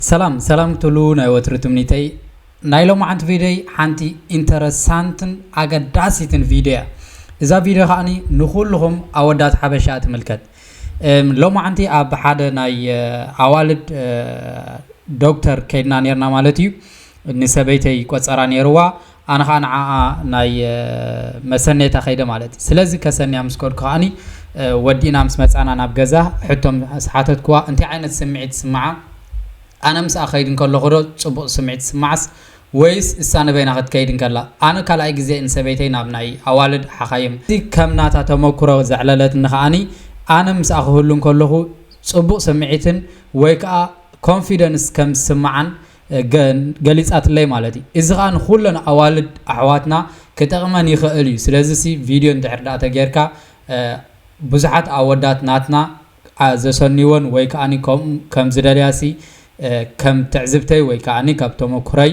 ሰላም ሰላም ክትብሉ ናይ ወትሩ ትምኒተይ። ናይ ሎማዓንቲ ቪድዮይ ሓንቲ ኢንተረሳንትን ኣገዳሲትን ቪድዮ እያ። እዛ ቪድዮ ከዓኒ ንኹልኹም ኣወዳት ሓበሻ ትምልከት። እም፣ ሎማዓንቲ ኣብ ሓደ ናይ እ፣ ኣዋልድ እ፣ ዶክተር ከይድና ኔርና ማለት እዩ። እኒ ሰበይተይ ቆጸራ ኔርዋ ኣነ ከኣ ንዓኣ ናይ መሰነይታ ከይደ ማለት ስለዚ ከሰንያ ምስ ከድኩ ከኣ ወዲእና ምስ መጻና ናብ ገዛ ሕቶ ምስ ሓተትክዋ እንታይ ዓይነት ስምዒት ይስምዓ ኣነ ምስኣ ክከይድ እንከለኩ ዶ ጽቡቅ ስምዒት ይስምዓስ ወይስ እሳ ንበይና ክትከይድ እንከላ ኣነ ካልኣይ ግዜ ንሰበይተይ ናብ ናይ ኣዋልድ ሓካይም እዚ ከም ናታ ተመኩሮ ዘዕለለትኒ ከኣ ኣነ ምስኣ ክህሉ እንከለኩ ጽቡቅ ስምዒትን ወይ ከኣ ኮንፊደንስ ከም ዝስምዓን ገሊጻትለይ ማለት እዩ እዚ ከኣ ንኩለን ኣዋልድ ኣሕዋትና ክጠቅመን ይክእል እዩ ስለዚ ሲ ቪድዮ እንድሕር ደኣ ተገርካ ብዙሓት ኣወዳት ናትና ዘሰንይወን ወይ ከኣ ከምኡ ከም ዝደልያ ሲ ከም ትዕዝብተይ ወይ ከኣ ካብ ተመኩሮይ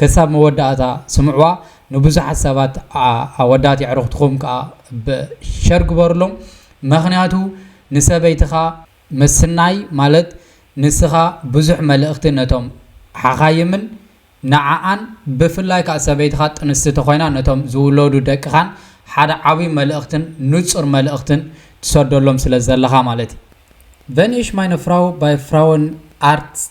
ከሳብ መወዳኣታ ስምዕዋ ንብዙሓት ሰባት ኣወዳት የዕርኽትኹም ከኣ ብ ሸር ግበርሎም መኽንያቱ ንሰበይትኻ ምስናይ ማለት ንስኻ ብዙሕ መልእኽቲ ነቶም ሓኻይምን ንዓኣን ብፍላይ ከኣ ሰበይትኻ ጥንስቲ ተኾይና ነቶም ዝውለዱ ደቅኻን ሓደ ዓብይ መልእኽትን ንጹር መልእኽትን ትሰደሎም ስለ ዘለኻ ማለት እዩ። Wenn ich meine Frau bei Frauenarzt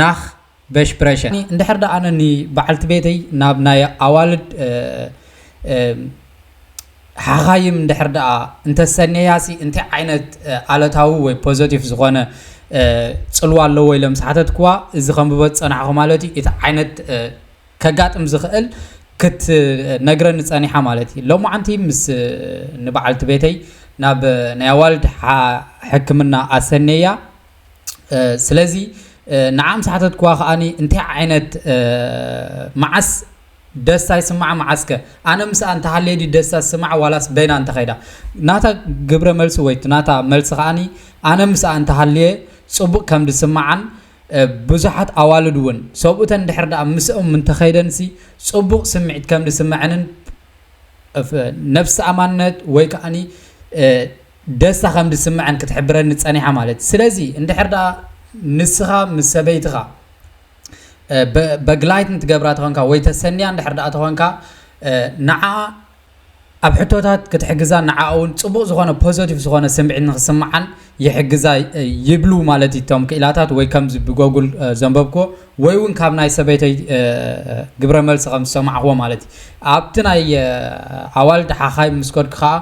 ናክ በሽ ብረሸ እንድሕር ደኣ ኣነ ን በዓልቲ ቤተይ ናብ ናይ ኣዋልድ ሓኻይም እንድሕር ደኣ እንተሰንየያ ሲ እንታይ ዓይነት ኣለታዊ ወይ ፖዘቲፍ ዝኾነ ጽልዋ ኣለዎ ኢለ ምስ ሓተትክዋ እዚ ከንብቦ ዝጸናሕኩ ማለት እዩ እቲ ዓይነት ከጋጥም ዝኽእል ክትነግረኒ ጸኒሓ ማለት እዩ ሎማዓንቲ ምስ ን በዓልቲ ቤተይ ናብ ናይ ኣዋልድ ሕክምና ኣሰንየያ ስለዚ ንዓ ምስ ሓተትክዋ ከኣ እንታይ ዓይነት መዓስ ደስታ ይስማዓ መዓስከ ኣነ ምስኣ እንተሃልየ ድዩ ደስታ ዝስማዓ ዋላስ በይና እንተኸይዳ ናታ ግብረ መልሲ ወይ ናታ መልሲ ከኣ ኣነ ምስኣ እንተሃልየ ጽቡቕ ከም ዝስማዓን ብዙሓት ኣዋልድ እውን ሰብኡተን ድሕር ደኣ ምስኦም እንተኸይደንሲ ጽቡቕ ስምዒት ከም ዝስመዐንን ነፍሲ ኣማነት ወይ ከኣኒ ደስታ ከም ዝስምዐን ክትሕብረኒ ጸኒሓ ማለት እዩ። ስለዚ እንድሕር ደኣ ንስኻ ምስ ሰበይትኻ በግላይትን ትገብራ ተኾንካ ወይ ተሰንያ እንድሕር ደኣ ተኾንካ ንዓኣ ኣብ ሕቶታት ክትሕግዛን ንዓኣ እውን ጽቡቕ ዝኾነ ፖዘቲቭ ዝኾነ ስምዒት ንኽስምዓን ይሕግዛ ይብሉ ማለት እዩ እቶም ክኢላታት ወይ ከምዚ ብጎጉል ዘንበብክዎ ወይ እውን ካብ ናይ ሰበይተይ ግብረ መልሲ ከም ዝሰማዕክዎ ማለት እዩ። ኣብቲ ናይ ኣዋልድ ሓኻይም ምስ ከድኩ ከኣ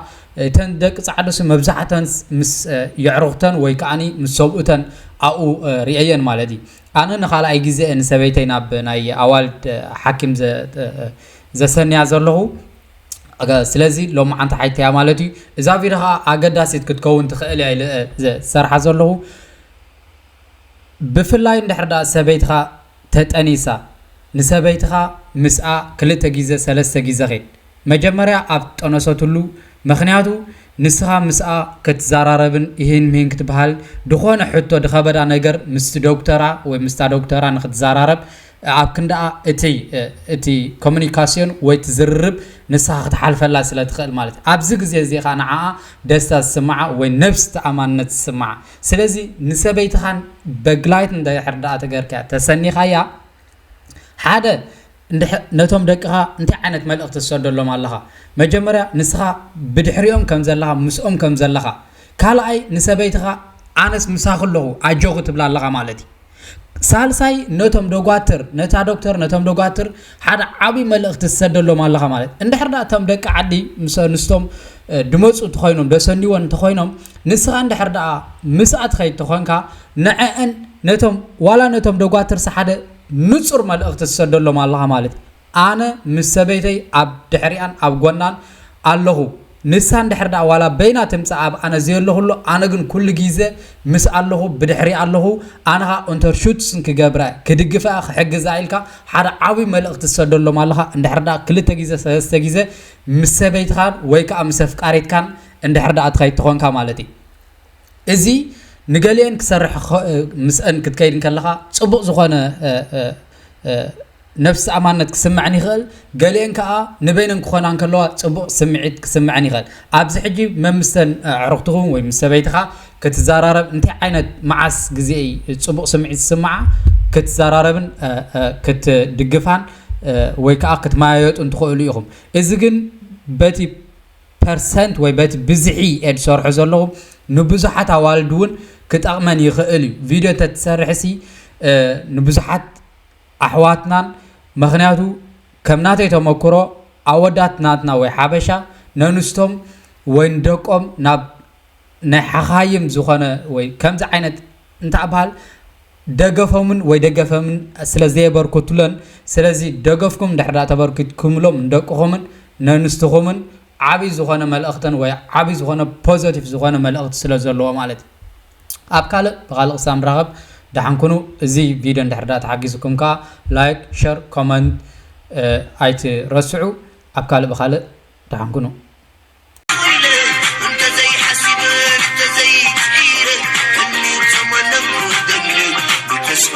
እተን ደቂ ጻዕዱሲ መብዛሕተን ምስ የዕሩኽተን ወይ ከኣ ምስ ሰብኡተን ኣብኡ ርእየየን ማለት እዩ። ኣነ ንኻልኣይ ግዜ እየ ንሰበይተይ ናብ ናይ ኣዋልድ ሓኪም ዘሰንያ ዘለኹ፣ ስለዚ ሎምዓንቲ ሓይልቲ እያ ማለት እዩ። እዛ ቪድዮ ከኣ ኣገዳሲት ክትከውን ትኽእል እያ ኢለ እየ ዝሰርሓ ዘለኹ። ብፍላይ እንድሕር ድኣ ሰበይትኻ ተጠኒሳ፣ ንሰበይትኻ ምስኣ ክልተ ግዜ ሰለስተ ግዜ ኪድ፣ መጀመርያ ኣብ ዝጠነሰትሉ፣ ምኽንያቱ ንስኻ ምስኣ ክትዘራረብን ኢሂን ምሂን ክትበሃል ድኾነ ሕቶ ድኸበዳ ነገር ምስቲ ዶክተራ ወይ ምስታ ዶክተራ ንክትዘራረብ ኣብ ክንድኣ እቲ እቲ ኮሚኒካስዮን ወይ እቲ ዝርርብ ንስኻ ክትሓልፈላ ስለ ትኽእል ማለት እዩ ኣብዚ ግዜ እዚ ኸኣ ንዓኣ ደስታ ዝስምዓ ወይ ነብስ ተኣማንነት ዝስምዓ ስለዚ ንሰበይትኻን በግላይት እንድሕር ድኣ ተገርካያ ተሰኒኻያ ሓደ እንድሕ ነቶም ደቅኻ እንታይ ዓይነት መልእኽቲ ትሰደሎም ኣለኻ መጀመርያ ንስኻ ብድሕሪኦም ከም ዘለኻ ምስኦም ከም ዘለኻ ካልኣይ ንሰበይትኻ ኣነስ ምሳኺ ኣለኹ ኣጆኺ ትብላ ኣለኻ ማለት እዩ። ሳልሳይ ነቶም ደጓትር ነታ ዶክተር ነቶም ደጓትር ሓደ ዓብዪ መልእኽቲ ትሰደሎም ኣለኻ ማለት እንድሕር ዳ እቶም ደቂ ዓዲ ምስ ኣንስቶም ድመፁ እንተኾይኖም ደሰኒዎን እንተኾይኖም ንስኻ እንድሕር ዳ ምስኣ ትኸይድ እንተኾንካ ንዐአን ነቶም ዋላ ነቶም ደጓትርሲ ሓደ ንፁር መልእኽቲ ትሰደሎም ኣለኻ ማለት ኣነ ምስ ሰበይተይ ኣብ ድሕሪኣን ኣብ ጎናን ኣለኹ ንሳ እንድሕር ድኣ ዋላ በይና ትምጻእ ኣብ ኣነ ዘየለኹሉ ኣነ ግን ኩሉ ጊዘ ምስ ኣለኹ ብድሕሪኣ ኣለኹ ኣነ ከኣ ኡንተርሹትስን ክገብረ ክድግፈኣ ክሕግዛ ኢልካ ሓደ ዓብይ መልእኽቲ ትሰደሎም ኣለኻ እንድሕር ድኣ ክልተ ጊዘ ሰለስተ ጊዘ ምስ ሰበይትኻን ወይ ከኣ ምስ ኣፍቃሪትካን እንድሕር ድኣ ትኸይድ ተኾንካ ማለት እዩ እዚ ንገሊኤን ክሰርሕ ምስአን ክትከይድ ከለኻ ጽቡቕ ዝኾነ ነፍስ-ኣማንነት ክስመዐን ይኸእል፣ ገሊኤን ከኣ ንበይነን ክኾና እንከለዋ ጽቡቕ ስምዒት ክስመዐን ይኸእል። ኣብዚ ሕጂ መምስተን ኣዕሩኽትኹም ወይ ምስ ሰበይትኻ ክትዛራረብ እንታይ ዓይነት መዓስ ግዜ እይ ጽቡቕ ስምዒት ዝስመዓ ክትዛራረብን ክትድግፋን ወይ ከኣ ክትመያየጡን ትኸእሉ ኢኹም። እዚ ግን በቲ ፐርሰንት ወይ በቲ ብዝሒ እየ ዝሰርሖ ዘለኹ ንብዙሓት ኣዋልድውን ክጠቕመን ይኸእል እዩ። ቪድዮ እንተትሰርሕሲ ንብዙሓት ኣሕዋትናን መክንያቱ ከም ናተይ ተመክሮ ኣወዳት ናትና ወይ ሓበሻ ነንስቶም ወይ ንደቆም ናብ ናይ ሓኻይም ዝኾነ ወይ ከምዚ ዓይነት እንተባህል ደገፎምን ወይ ደገፈምን ስለ ዘየበርኩትለን ስለዚ ደገፍኩም እንድሕር ተበርኪትኩምሎም ንደቅኹምን ነንስትኹምን ዓብይ ዝኾነ መልእኽትን ወይ ዓብይ ዝኾነ ፖዘቲቭ ዝኾነ መልእኽቲ ስለ ዘለዎ ማለት እዩ። ኣብ ካልእ ብካልእ ክሳብ ንራከብ ዳሓን ኩኑ እዚ ቪድዮ እንድሕር ዳኣ ተሓጊዙኩም ካኣ ላይክ ሸር ኮመንት ኣይትረስዑ ኣብ ካልእ ብካልእ ዳሓን ኩኑ።